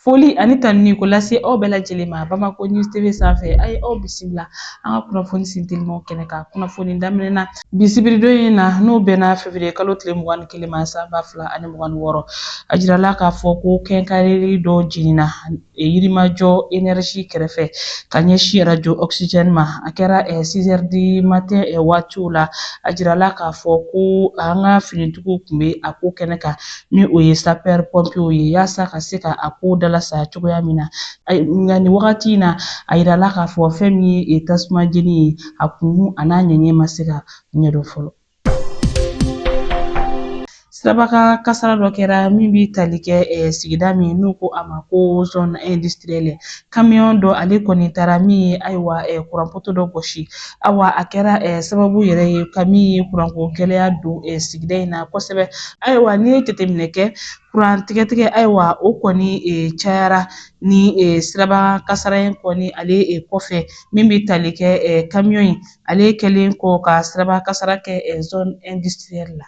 Foli ani tanuni k'o lase aw bɛɛ lajɛlen ma Bamako News TV sanfɛ a ye aw bisimila an ka kunnafoni sintelimaw kɛnɛ kan kunnafoni daminɛ na bi sibiridon in na n'o bɛnna fevriye kalo tile mugan ni kelen ma san ba fila ani mugan ni wɔɔrɔ a jirala k'a fɔ ko quincaillerie dɔ jenina e, Yirimajɔ énergie kɛrɛfɛ ka ɲɛsi arajo oxygène ma a kɛra 6 heures du matin waatiw la a jirala k'a fɔ ko an ka finitigiw tun bɛ a ko kɛnɛ kan ni o ye sapɛri pɔnpew ye yaasa ka se ka a ko dalasa cogoya min na nka nin wagati in na a yirala k'a fɔ fɛn min ye tasuma jeni ye a kunkun an'a ɲɛɲɛ ma se ka ɲɛdɔn fɔlɔ sirabakan kasara dɔ kɛra min bɛ tali kɛ sigida min n'u ko a ma ko zone industrielle kamiyɔn dɔ ale kɔni taara min ye ayiwa kuranpoto dɔ gosi ayiwa a kɛra sababu yɛrɛ ye ka min ye kuranko gɛlɛya don sigida in na kosɛbɛ ayiwa n'i ye jateminɛ kɛ kuran tigɛtigɛ ayiwa o kɔni cayara ni siraba kasara in kɔni ale kɔfɛ min bɛ tali kɛ kamiyɔn in ale kɛlen kɔ ka siraba kasara kɛ zone industrielle la.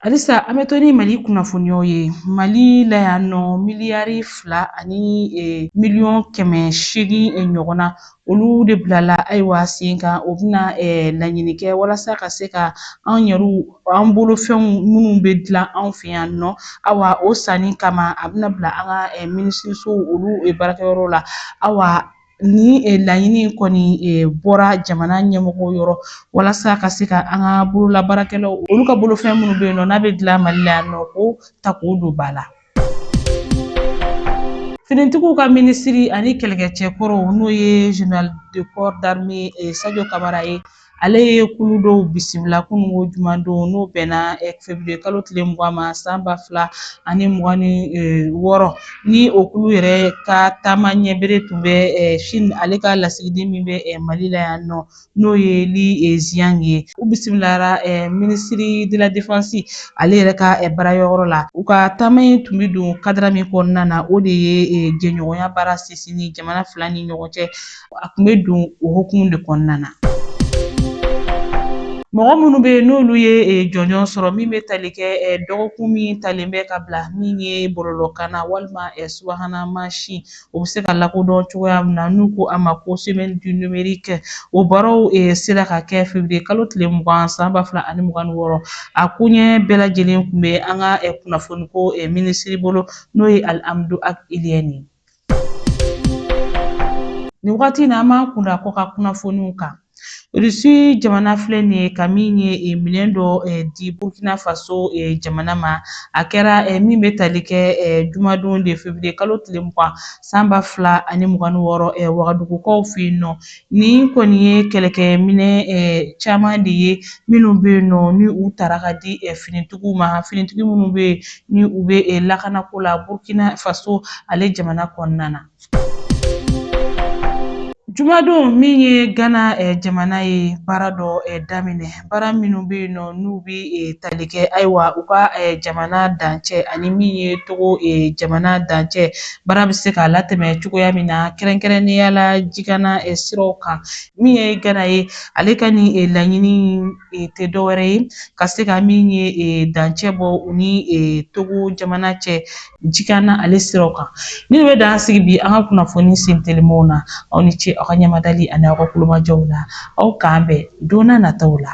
Halisa an bɛ to ni Mali kunnafoniyaw ye Mali la yan nɔ miliyari fila ani miliyɔn kɛmɛ seegin ɲɔgɔnna olu de bilala ayiwa sen kan o bɛna laɲini kɛ walasa ka se ka an yɛrɛ an bolofɛnw minnu bɛ dilan anw fɛ yan nɔ awa o sanni kama a bɛna bila an ka minisirisow olu baarakɛyɔrɔ la awa Nin eh, laɲini in kɔni eh, bɔra jamana ɲɛmɔgɔ yɔrɔ walasa ka se ka an ka bololabaarakɛlaw olu ka bolofɛn minnu bɛ yen nɔ n'a bɛ dilan Mali la yan nɔ k'o ta k'o don ba la finitigiw ka minisiri ani kɛlɛkɛcɛ kɔrɔw n'o ye général de corps d'armée eh, Sajo Kamara ye Ale ye kulu dɔw bisimila kunun ko juman don n'o bɛnna fevriye kalo tile mugan ma san ba fila ani mugan ni wɔɔrɔ ni o kulu yɛrɛ ka taama ɲɛbere tun bɛ Chine ale ka lasigiden min bɛ Mali la yan nɔ n'o ye Li Xiang ye u bisimilara minisiri de la defansi ale yɛrɛ ka baarayɔrɔ la u ka taama in tun bɛ don kadara min kɔnɔna na o de ye jɛɲɔgɔnya baara sinsinni jamana fila ni ɲɔgɔn cɛ a tun bɛ don o hukumu de kɔnɔna na. Mɔgɔ minnu bɛ yen n'olu ye jɔnjɔn sɔrɔ min bɛ tali kɛ dɔgɔkun min talen bɛ ka bila min ye bɔlɔlɔkan na walima subahana mansin o bɛ se ka lakodɔn cogoya min na n'u ko a ma ko semaine du numérique o baaraw sera ka kɛ février kalo tile mugan san ba fila ani mugan ni wɔɔrɔ a koɲɛ bɛɛ lajɛlen tun bɛ an ka kunnafoniko minisiri bolo n'o ye Alihamudu Ag Iliyɛni ye. Nin wagati in na an b'an kun da kɔkan kunnafoniw kan irisi jamana filɛ nin ye ka min ye e, minɛn dɔ e, di burkina faso e, jamana ma a kɛra min bɛ tali kɛ jumadon de feburuye kalo tile mugan san ba fila ani mugan ni wɔɔrɔ wagadugukaw fɛ yen nɔ Nin kɔni ye kɛlɛkɛminɛn caman de ye minnu bɛ yen nɔ ni u taara k'a di finitigiw ma finitigi minnu bɛ yen ni u bɛ lakanako la Burukina faso ale jamana kɔnɔna na. Jumadon min ye Gana jamana ye baara dɔ daminɛ. baara minnu bɛ yen nɔ n'u bɛ tali kɛ ayiwa u ka jamana dancɛ ani min ye togo jamana dancɛ baara bɛ se ka latɛmɛ cogoya min na kɛrɛnkɛrɛnnenya la jikanna siraw kan min ye gana ye ale ka nin laɲini tɛ dɔwɛrɛ ye ka se ka min ye dancɛ bɔ u ni togo jamana cɛ jikanna ale siraw kan nin bɛ dan sigi bi an ka kunnafoni sen telimaw na aw ni ce aw ka ɲamadali ani aw ka tulomajɔw la aw k'an bɛn donna nataw la